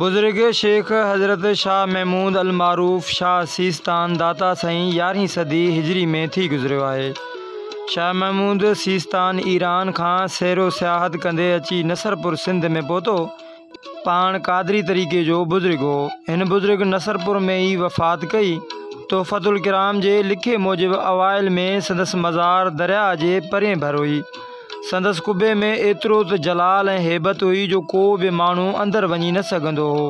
بزرگ شيخ حضرت شاهه محمود المعروف شاهه سيستان داتا سائين يارهين صدي هجري ۾ ٿي گذريو آهي. شاهه محمود سيستان ايران کان سير و سياحت ڪندي اچي نصرپور سنڌ ۾ پهتو. پاڻ قادري طريقي جو بزرگ هو. هن بزرگ نصرپور ۾ ئي وفات ڪئي. تحفة الڪرام جي لکي موجب اوائل ۾ سندس مزار درياء جي پرين ڀر هئي. سندس قبي ۾ ايترو ته جلال ۽ هيبت هئي جو ڪو به ماڻهو اندر وڃي نه سگهندو هو.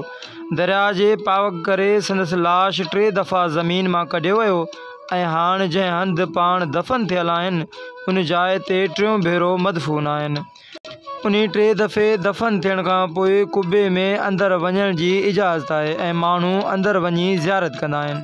درياء جي پاوڪ ڪري سندس لاش ٽي دفعا زمين مان ڪڍيو ويو ۽ هاڻ جنهن هنڌ پاڻ دفن ٿيل آهن، ان جاء تي ٽيون ڀيرو مدفون آهن. انهي ٽي دفعي دفن ٿيڻ کان پوء قبي ۾ اندر وڃڻ جي اجازت آهي ۽ ماڻهو اندر وڃي زيارت ڪندا آهن.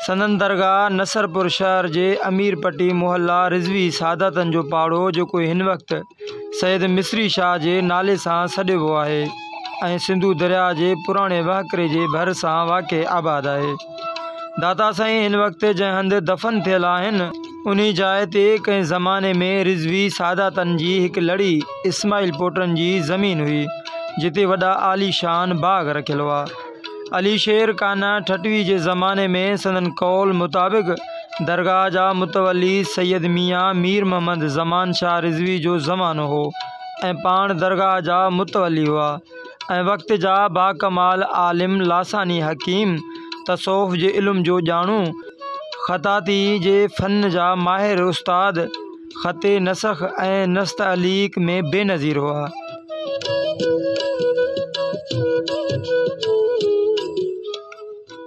سندن درگاهه نصرپور شهر جي امير پٽي محلا رضوي ساداتن جو پاڙو جيڪو هن وقت سيد مصري شاهه جي نالي سان سڏبو آهي ۽ سنڌو درياهه جي پراڻي وهڪري جي ڀر سان واقع آباد آهي. داتا سائين هن وقت جنهن هنڌ دفن ٿيل آهن، انهي جاء تي ڪنهن زماني ۾ رضوي ساداتن جي هڪ لڙي اسماعيل پوٽن جي زمين هئي، جتي وڏا عاليشان باغ رکيل هئا. علي شير قانع ٺٽوي جي زماني ۾ سندن قول مطابق درگاهه جا متولي سيد ميان مير محمد زمان شاهه رضوي جو زمانو هو ۽ پاڻ درگاهه جا متولي هئا. ۽ وقت جا باڪمال عالم لاثاني حڪيم، تصوف جي علم جو ڄاڻو، خطاطيء جي فن جا ماهر استاد، خط نسخ ۽ نستعليق ۾ بي نظير هئا.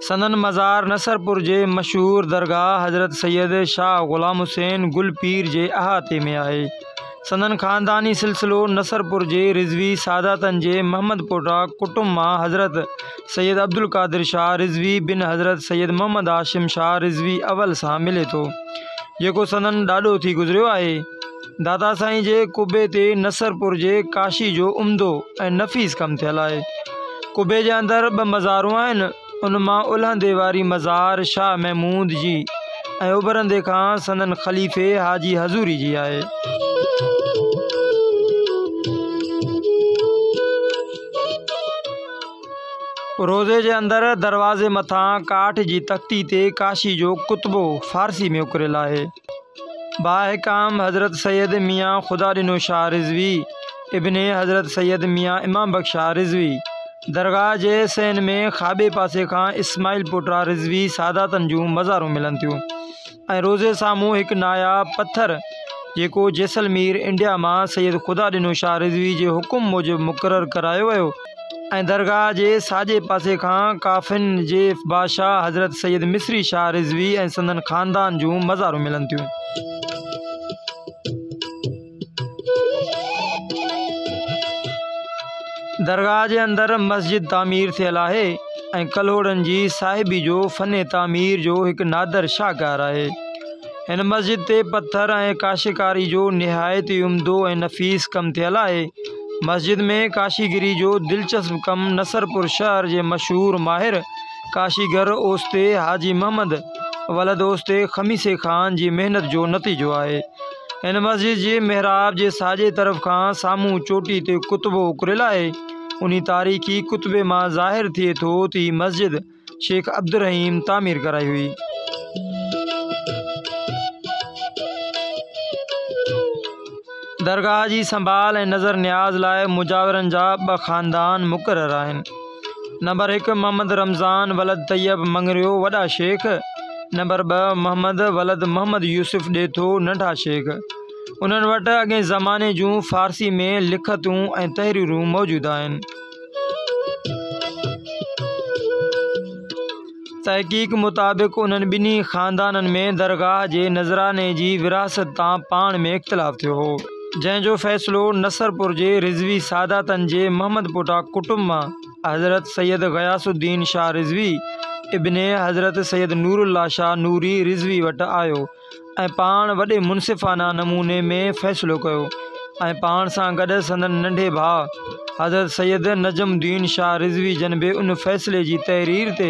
سندن مزار نصرپور جي مشهور درگاهه حضرت سيد شاهه غلام حسين گل پير جي احاطي ۾ آهي. سندن خانداني سلسلو نصرپور جي رضوي ساداتن جي محمد پوٽا ڪٽنب مان حضرت سيد عبدالقادر شاهه رضوي بن حضرت سيد محمد هاشم شاهه رضوي اول سان ملي ٿو، جيڪو سندن ڏاڏو ٿي گذريو آهي. دادا سائين جي قبي تي نصرپور جي ڪاشي جو عمدو ۽ نفيس ڪم ٿيل آهي. قبي جي اندر ٻه مزارون آهن، ان مان الهندي واري مزار شاهه محمود جي ۽ اڀرندي کان سندن خليفي حاجي حضوري جي آهي. روضي جي اندر دروازي مٿان ڪاٺ جي تختي تي ڪاشي جو ڪتبو فارسي ۾ اڪريل آهي. باحڪام حضرت سيد ميان خدا ڏنو شاهه رضوي، ابن حضرت سيد ميان امام بخش شاهه رضوي، درگاهه جي سين ۾ کاٻي پاسي کان اسماعيل پوٽرا رضوي ساداتن جون مزارون ملن ٿيون ۽ روضي سامهون هڪ ناياب پٿر جيڪو جيسلمير، انڊيا، مان سيد خدا ڏنو شاهه رضوي جي حڪم موجب مقرر ڪرايو ويو. ۽ درگاهه جي ساڄي پاسي کان ڪافن جي بادشاهه حضرت سيد مصري شاهه رضوي ۽ سندن خاندان جون مزارون ملن ٿيون. درگاهه جي اندر مسجد تعمير ٿيل آهي ۽ ڪلهوڙن جي صاحبي جو فن تعمير جو هڪ نادر شاهڪار آهي. هن مسجد تي پٿر ۽ ڪاشيڪاري جو نهايت ئي عمدو ۽ نفيس ڪم ٿيل آهي. مسجد ۾ ڪاشيگري جو دلچسپ ڪم نصرپور شهر جي مشهور ماهر ڪاشيگر اوستي حاجي محمد ولد اوستي خميسي خان جي محنت جو نتيجو آهي. هن مسجد جي محراب جي ساڄي طرف کان سامهون چوٽي تي ڪتبو اڪريل آهي. انهي تاريخي ڪتبي مان ظاهر ٿئي ٿو ته هي مسجد شيخ عبدالرحيم تعمير ڪرائي هئي. درگاهه جي سنڀال ۽ نظر نياز لاء مجاورن جا ٻه خاندان مقرر آهن. نمبر هڪ محمد رمضان ولد طيب مڱريو وڏا شيخ، نمبر ٻه محمد ولد محمد يوسف ڏيٿو ننڍا شيخ. انهن وٽ اڳئين زماني جون فارسي ۾ لکتون ۽ تحريرون موجود آهن. تحقيق مطابق انهن ٻنهي خاندانن ۾ درگاهه جي نذراني جي ورهاست تان پاڻ ۾ اختلاف ٿيو هو جنهن جو فيصلو نصرپور جي رضوي ساداتن جي محمد پوٽا ڪٽنب مان حضرت سيد غياث الدين شاهه رضوي ابن حضرت سيد نور الله شاهه نوري رضوي وٽ آيو ۽ پاڻ وڏي منصفانه نموني ۾ فيصلو ڪيو ۽ پاڻ سان گڏ سندن ننڍي ڀاء حضرت سيد نجم الدين شاهه رضوي جن به ان فيصلي جي تحرير تي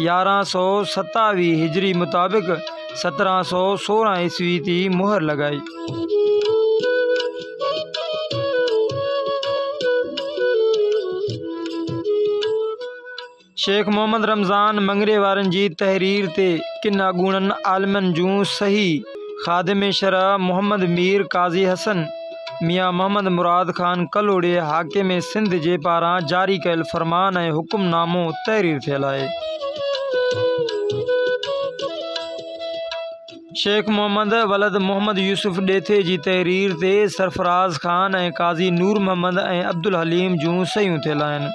يارهن سؤ ستاويهه هجري مطابق سترهن سؤ سورهن عيسوي تي مهر لڳائي. شيخ محمد رمضان مڱريي وارن جي تحرير تي ڪن اڳوڻن عالمن جون صحيح، خادم شرع محمد مير قاضي حسن، ميان محمد مراد خان ڪلهوڙي حاڪم سنڌ جي پاران جاري ڪيل فرمان ۽ حڪم نامو تحرير ٿيل آهي. شيخ محمد ولد محمد يوسف ڏيٿي جي تحرير تي سرفراز خان ۽ قاضي نور محمد ۽ عبدالحليم جون صحيحون ٿيل آهن.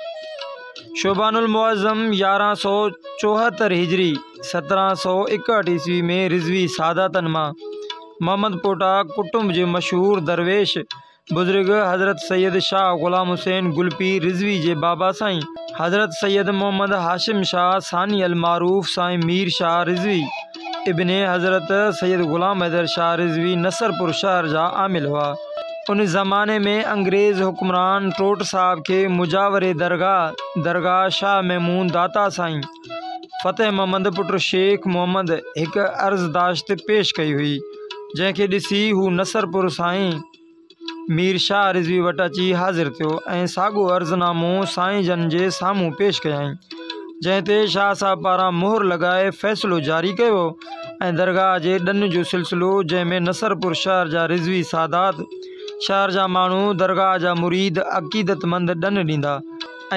شعبان المعظم يارهن سؤ چوهتر هجري سترهن سؤ ايڪهٺ عيسوي ۾ رضوي ساداتن مان محمد پوٽا ڪٽنب جي مشهور درويش بزرگ حضرت سيد شاهه غلام حسين گلپير رضوي جي بابا سائين حضرت سيد محمد هاشم شاهه ثاني المعروف سائين مير شاهه رضوي ابن حضرت سيد غلام حيدر شاهه رضوي نصرپور شهر جا عامل هئا. ان زماني ۾ انگريز حڪمران ٽوٽ صاحب کي مجاوري درگاهه، درگاهه شاهه محمود داتا سائين، فتح محمد پٽ شيخ محمد هڪ عرضداشت پيش ڪئي هئي، جنهن کي ڏسي هو نصرپور سائين، مير شاهه رضوي وٽ اچي حاضر ٿيو ۽ ساڳيو عرض نامو سائين جن جي سامهون پيش ڪيائين، جنهن تي شاهه صاحب پاران مهر لڳائي فيصلو جاري ڪيو ويو ۽ درگاهه جي ڏن جو سلسلو جنهن ۾ نصرپور شهر جا رضوي سادات، شهر جا ماڻهو، درگاهه جا مريد، عقيدتمند ڏن ڏيندا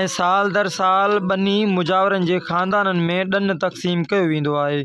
۽ سال در سال ٻنهي مجاورن جي خاندانن ۾ ڏن تقسيم ڪيو ويندو آهي.